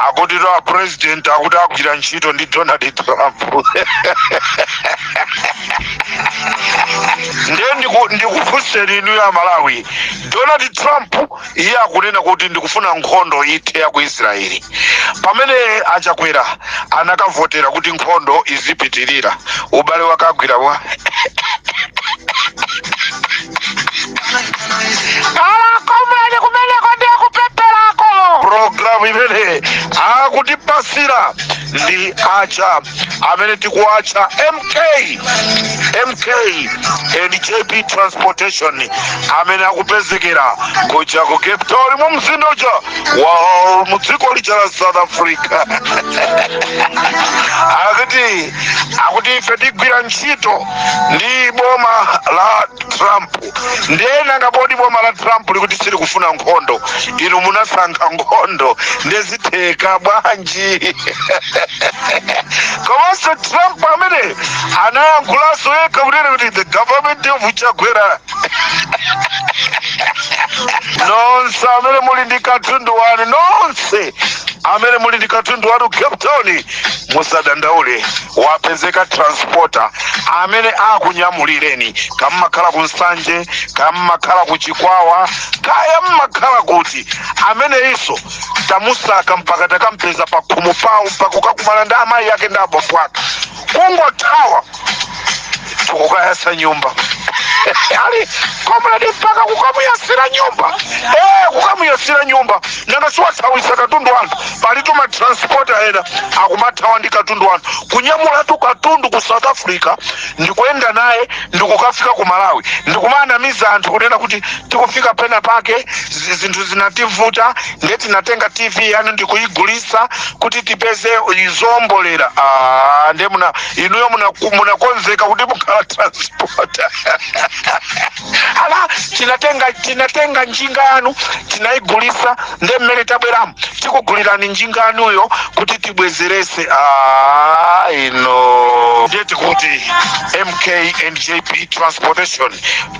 akutitu apresident akuti agwira ntchito ndi donald trump ndiye ndiku- ndikufunseni inu ya malawi donald trump iye akunena kuti ndikufuna nkhondo ithe ya ku israeli pamene achakwera anakavotera kuti nkhondo izipitirira ubale wakagwira bwa alakomuleni kumeneko ndi akuperekako programu imene akutipasira ndi aja amene tikuwatcha mk and jp transportation amene akupezekera kuja ku cape town mu mzinda uja wa mu dziko lija la south africa akuti akuti ife tigwira ntchito ndi boma la trump ndiye nanga poti boma la trump likuti silikufuna nkhondo inu munasankha nkhondo ndiye zitheka bwanji komanso trump amene anayankhulanso yekha kunena kuti the government ya chakwera nonse amene muli ndi katundu wanu nonse amene muli ndi katundu wanu cape town musadandaule wapezeka transporter amene akunyamulireni kaya mmakhala ku nsanje kaya mmakhala ku chikwawa kaya mmakhala kuti ameneyinso tamusaka mpaka takampeza pakhomo pawo mpaka kukakumana ndi amayi ake ndi abambo ake kungothawa tikukayasa nyumba ali komredi mpaka kukamuyasira nyumba eh kukamuyasira nyumba nanga siwathawisa katundu wa anthu palitu matransporta ena akumathawa ndi katundu wa anthu kunyamulatu katundu ku south africa ndikuyenda naye ndikukafika ku malawi ndikumanamiza anthu kunena kuti tikufika pena pake zi- zinthu zinativuta nde tinatenga tv yanu ndikuyigulisa kuti tipeze izombolera ah, nde kuti inuyo munaku- munakonzeka kuti mukhala transporter ala tinatenga tinatenga njinga yanu tinayigulisa nde mmene tabweramu tikugulirani njinga yanuyo kuti tibwezerese ah, ine ndati kuti mk and jp transportation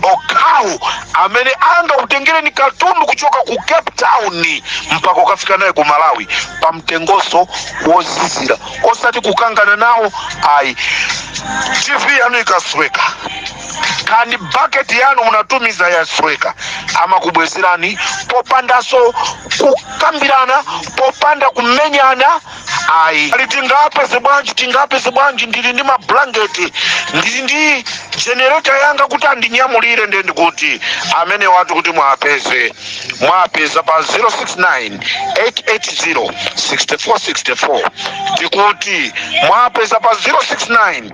okhawo amene angakutengereni katundu kuchoka ku cape town mpaka kukafika naye ku malawi pa mtengonso wozizira osati kukangana nawo ayi tv yanu ikasweka kaya ndi baketi yanu munatumiza yasweka amakubwezerani popandanso kukambirana popanda kumenyana ayi ali tingapeze bwanji tingapeze bwanji ndili ndi mablanketi ndili ndi jenereta yanga kuti andinyamulire ndiye ndikuti amene wati kuti mwapeze mwapeza pa 069 880 6464 tikuti mwapeza pa 069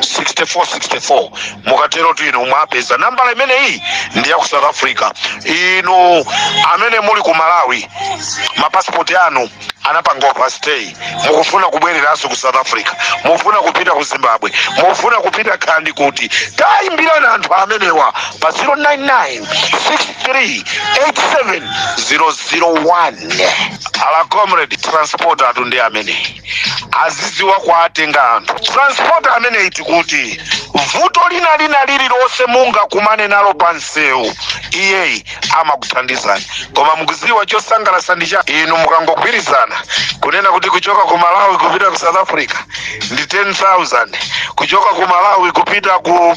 8806464 mukaterotu inu mwapeza nambala imeneyi ndi ya ku south africa inu amene muli ku malawi mapasipoti anu anapanga overstay mukufuna kubwereranso ku south africa mukufuna kupita ku zimbabwe mukufuna kupita khandi kuti tayimbirani anthu amenewa pa 099638701 ala comrade transporter athu ndi amene azidziwa kuwatenga anthu transporter ameneyi tikuti vuto lina lina lililonse mungakumane nalo pa msewu iyeyi amakuthandizani koma mukudziwa chosangalatsa ndi cha inu mukangogwirizana kunena kuti kuchoka ku malawi kupita ku south africa ndi 10000 kuchoka ku malawi kupita ku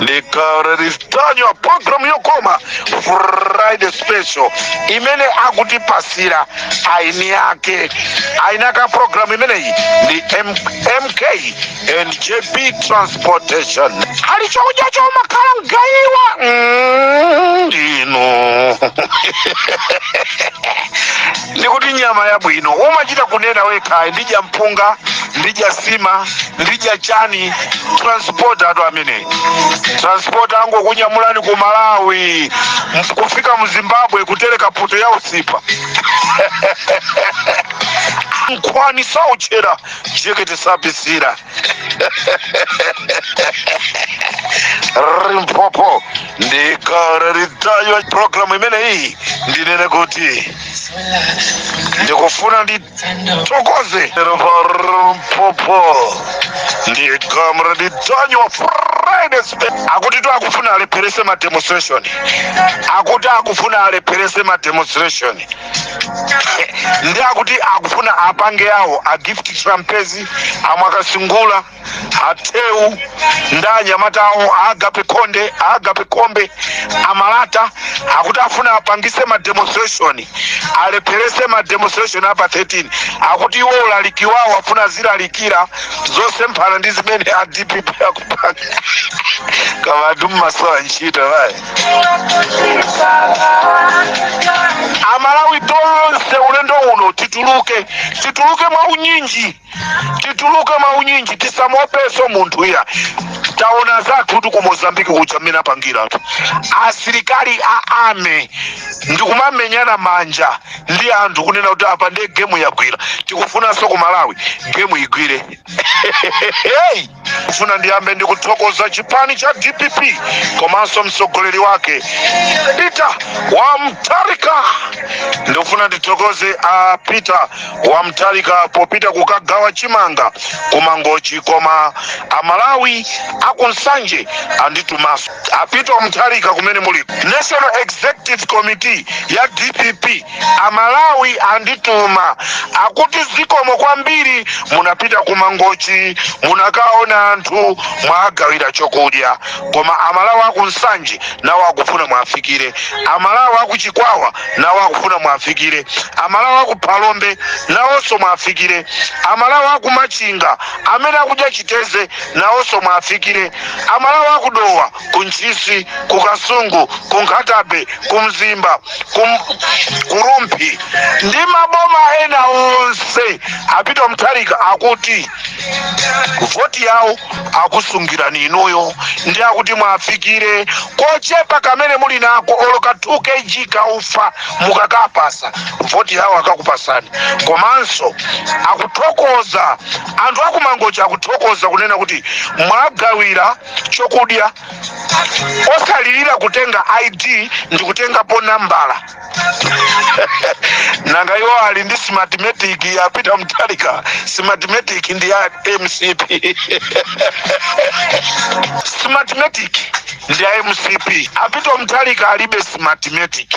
ndikaristanyo programu yokoma friday special imene akutipasira eni ake eni ake a programu imeneyi ndi M- mk and jp transportation ali chakudya choumakhala mgayiwa Mm, ndinu ndikuti nyama yabwino umachita kunena wekha ndidya mpunga ndidya nsima ndidya chani transporter athu ameneyi transporter angokunyamulani ku malawi mf- kufika mu zimbabwe kutereka poto ya usipa nkhwani sauchera jekete sapisira limpopo ndikara ritayo programu imeneyi ndinene kuti ndikufuna ndi thokoze limpopo ndi comrade tonyo friday spe- akuti to akufuna alepherese ma demonstration akuti akufuna alepherese ma demonstration ndi akuti akufuna apange awo a gift trapence amwakasingula atheu ndi anyamata awo agape khonde agape kombe amalata akuti afuna apangitse ma demonstration alepherese ma demonstration apa 13 akuti iwo ulaliki wawo afuna azilalikira zosemphana ndi zimene a dpp akupanga kama atu mmasowa ntchito ayi amalawi tonse ulendo uno tituluke tituluke mwa unyinji tituluke mwaunyinji tisamuopenso munthu iyayi taona anzathutu ku mozambiki kuja mmene apangiratu asilikali a ame ndikumamenyana manja ndi anthu kunena kuti apa ndiye gemu yagwira tikufunanso ku malawi gemu igwire hey! kufuna ndiyambe ndi kuthokoza chipani cha dpp komanso mtsogoleri wake Peter wa Mutharika ndikufuna ndithokoze a Peter wa Mutharika popita kukagawa chimanga kumangochi koma amalawi akunsanje anditumaso a Peter wa Mutharika kumene muli national executive committee ya dpp Amalawi andituma akuti zikomo kwambiri munapita ku Mangochi munakaona anthu mwawagawira chokudya koma amalawi aku Nsanje nawo akufuna muwafikire amalawi aku Chikwawa nawo akufuna muwafikire amalawi aku Phalombe nawonso muwafikire amalawi aku Machinga amene akudya chiteze nawonso muwafikire amalawi aku Dowa ku ntchisi ku kasungu ku Nkhata Bay ku mzimba ku, ku rumphi ndi maboma ena onse a Peter Mutharika akuti voti yawo akusungirani inuyo ndiye akuti muwafikire kochepa kamene muli nako olo ka 2 kg ka ufa mukakawapasa voti yawo akakupatsani komanso akuthokoza anthu akumangochi akuthokoza kunena kuti mwawagawira chokudya osalilira kutenga id ndikutengapo nambala nanga iwo ali ndi smartmatic a Peter Mutharika smartmatic ndi ya mcp smartmatic ndi ya mcp a Peter Mutharika alibe smartmatic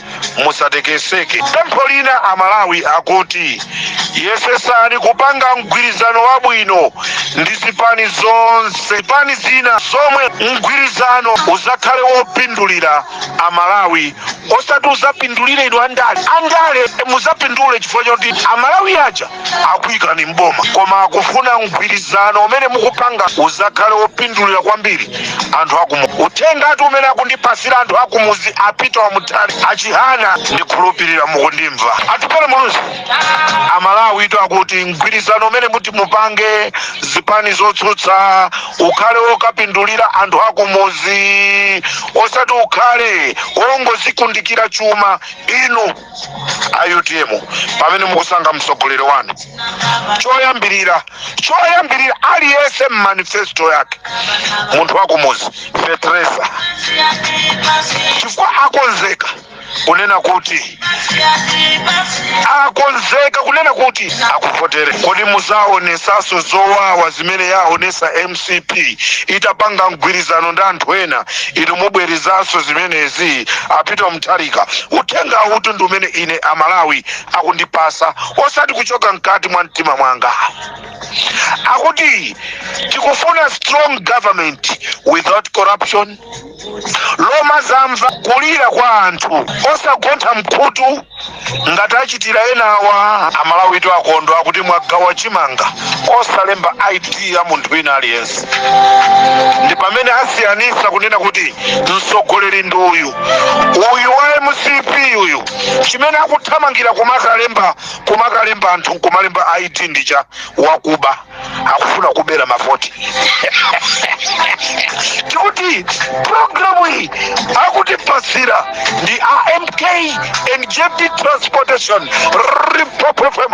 musatekeseke pempho lina amalawi akuti yesetsani kupanga mgwirizano wabwino ndi zipani zonse zipani zina zomwe mgwirizano uzakhale wopindulira amalawi osati uzapindulire inu andale andale muzapindule chifukwa choti amalawi aja akuyikani mboma koma akufuna mgwirizano umene mukupanga uzakhale wopindulira kwambiri anthu akumuzi uthengatu umene akundipasira anthu akumuzi a Peter wa Mutharika a Chihana ndikhulupirira mukundimva Atupele Muluzi amalawitu akuti mgwirizano umene muti mupange zipani zotsutsa ukhale wokapindulira anthu akumuzi osati ukhale wongozikundikira chuma inu a utm pamene mukusankha mtsogoleri wanu choyambirira choyambirira aliyense mmanifesto yake munthu wakumuzi feteleza chifukwa akonzeka kunena kuti akonzeka kunena kuti akuvotere kodi muzaonesanso zowawa zimene yaonesa mc mcp itapanga mgwirizano ndi anthu ena inu mubwerezanso zimenezi apita mtharika uthenga uwutu ndi umene ine amalawi akundipasa osati kuchoka mkati mwa mtima mwanga akuti tikufuna strong government without corruption lomazamva kulira kwa anthu osagontha mkhutu ngati achitira enawa amalawitu akondwa kuti mwagawa chimanga osalemba id ya munthu wina aliyense ndi pamene asiyanisa kunena kuti mtsogoleri ndi uyu uyu wa mcp uyu chimene akuthamangira kumakalemba kumakalemba anthu nkumalemba id ndicha wakuba akufuna kubera mavoti tikuti programu iyi akutipatsira ndi AMK and JD transportation Limpopo FM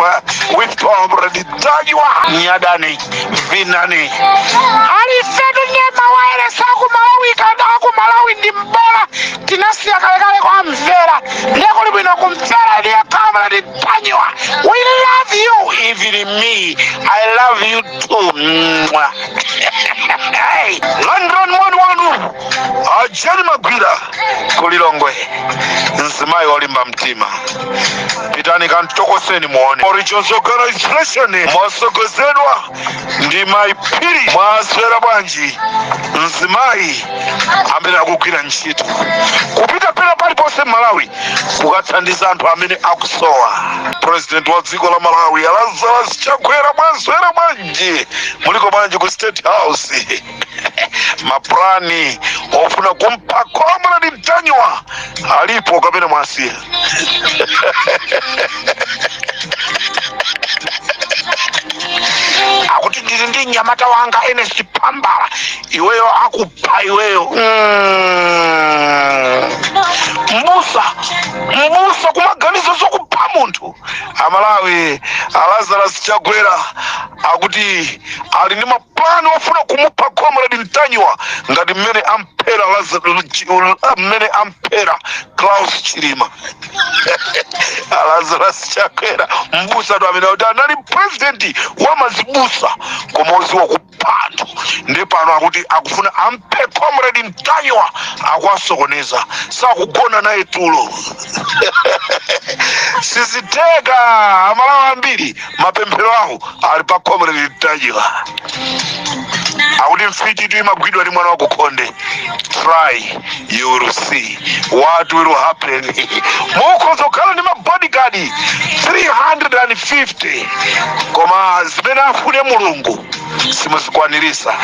with comrade Ntanyiwa nyadani vinani alifetu nyema mawailesi aku malawi kada aku malawi ndi mbola tinasiya kalekale kuwamvera ndekulibwino kumvera ndiye comrade Ntanyiwa, we love you. Even me, I love you too. Mwah. hey, London mwanu wanu. Ajani Magwira kulilongwe. Mzimayi wolimba mtima. Pitani kamtokoseni muone. Original organization. Motsogozedwa ndi mayi phiri mwaswera bwanji mzimayi amene akugwira ntchito kupita pena paliponse mmalawi kukathandiza anthu amene akusowa president wa dziko la malawi a lazarus chakwera mwaswera bwanji muliko bwanji ku state house mapulani ofuna kumupha comrade ntanyiwa alipo kapena mwasiya akuti ndili ndi mnyamata wanga ernest pambala iweyo akupha iweyo Mm. mbusa mbusa kumaganiza zokapha munthu amalawi a lazarus chakwera akuti ali ndi ma plan yofuna kumupha comrade mtanyiwa ngati mmene amphera mmene amphera klaus chilima a Lazarus chakwera mbusa tu amene kuti anali president wa mazibusa koma oziwa kupha anthu ndi pano akuti akufuna amphe comrade mtanyiwa akuwasokoneza sakugona naye tulo siziteka amalawa ambiri mapemphero awo ali pa comrade mtanyiwa akuti mfiti tu imagwidwa ndi mwana wakukhonde try you will see what will happen mukhoza kukhala ndi mabodyguard 350 koma zimene afune mulungu simuzikwanirisa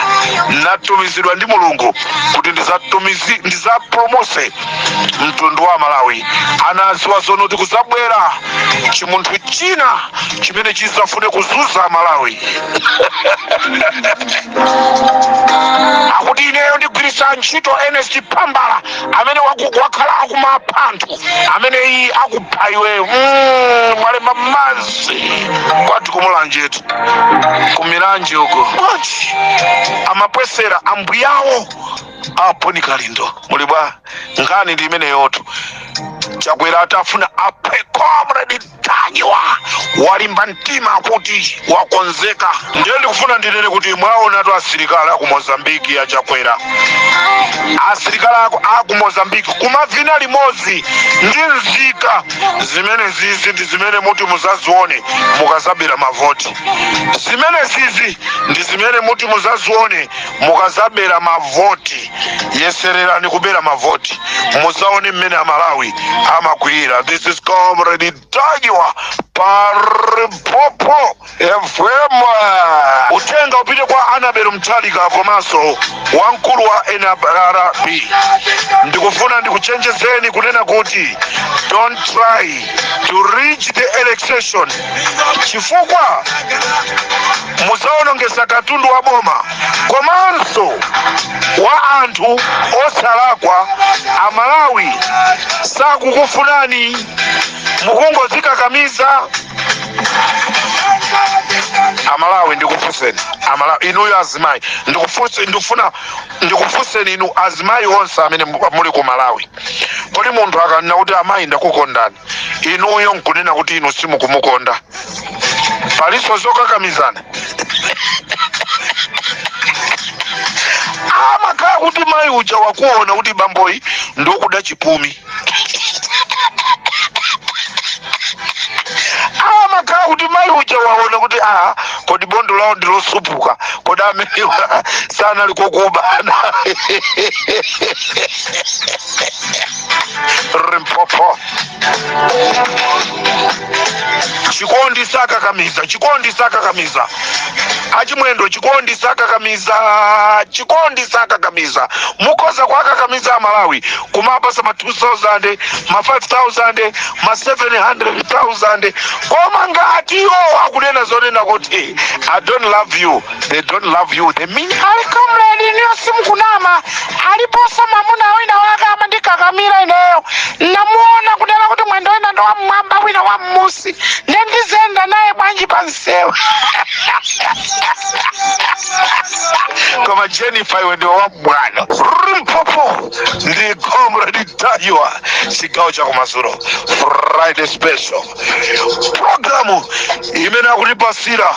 natumizidwa ndi mulungu kuti ndizatumizi ndizapulumuse mtundu wa malawi anaziwa zonoti kuzabwera chimunthu china chimene chizafune kuzunza malawi akuti ineyo ndigwirisa ntchito ernest phambala amene waku- wakhala akumapha anthu amene iyi akupha iweyo Mm, mwalemba mazi kwati kumulanjetu kumulanje uko amapwesera ambuyawo a bon kalindo muli bwa nkhani ndi imeneyotu chakwera akufuna aphe comrade mtanyiwa walimba mtima kuti wakonzeka ndiye ndikufuna ndinene kuti mwaonatu asilikali aku mozambiki a chakwera asilikali aku, aku mozambiki kumavina limodzi ndi nzika zimene zizi ndi zimene muti muzazione mukazabera mavoti zimene zizi ndi zimene muti muzazione mukazabera mavoti yesererani kubera mavoti muzaone mmene amalawi amakwiyira this is comrade mtanyiwa pa limpopo fm uthenga upite kwa anabel mtalimanja komanso wamkulu wa nrb ndikufuna ndikuchenjezeni kunena kuti don't try to rig the election chifukwa muzawonongesa katundu wa boma komanso wa anthu osalakwa amalawi sakukufunani mukungozikakamiza amalawi ndikufunseni amalawi inuyo azimayi ndikufunse- ndikufuna ndikufunseni inu azimayi onse amene mu- muli ku malawi kodi munthu akanena kuti amayi ndakukondani inuyo nkunena kuti inu simukumukonda palinso zokakamizana amakhala kuti mayi uja waona kuti bamboyi ndi okuda chipumi amakhala kuti mayi uja waona kuti a kodi bondo lawo ndilosupuka kodi amenewa sanali kokuba limpopo chikondi sakakamiza chikondi sakakamiza achimwendo chikondi sakakamiza chikondi sakakamiza mukhoza kuwakakamiza amalawi kumawapatsa ma 2000 ma 5000 ma 700000 koma ngati iwowo akunena zonena kuti i don't love you they don't love you they mean ali comrade inuyo simukunama aliponso mamuna wina wake amandikakamira ineyo namuona kunena kuti mwendo wina ndi wam'mwamba wina wam'munsi nde ndizenda naye bwanji pansewu koma jennifer iwe ndiwe wabwino limpopo ndi comrade ntanyiwa chigawo cha kumadzulo friday special programu imene akutipatsira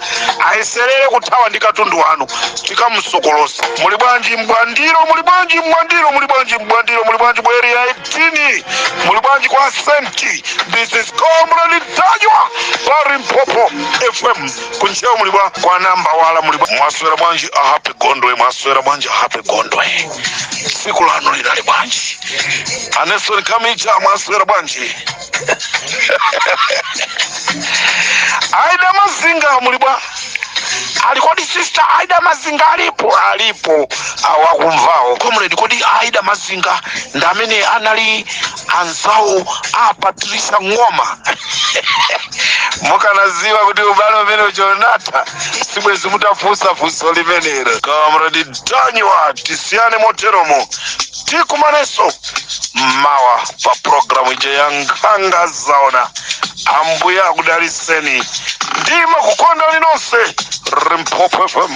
ayeserere kuthawa ndi katundu wanu tikamusokolosa muli bwanji mbwandiro muli bwanji mbwandiro muli bwanji mbwandiro muli bwanji ku area 18 muli bwanji kwa senti this is comrade ntanyiwa pa limpopo fm kunchewa muli bwa kwa nambawala muli bwa mwaswera bwanji a happy gondwe mwaswera bwanji a happy gondwe tsiku lanu linali bwanji aneson kamija mwaswera bwanji aida mazinga muli bwa ali kodi sister aida mazinga alipo alipo awakumvawo comrade kodi aida mazinga ndi amene anali anzawo a patricia ng'oma mukanadziwa kuti ubale umene uchonata sibwezi mutafunsa funso limenelo comrade ntanyiwa tisiyane moteromo tikumanenso mawa pa programu ija ya nkhanga zaona ambuye akudalitseni ndimakukondani nonse limpopo fm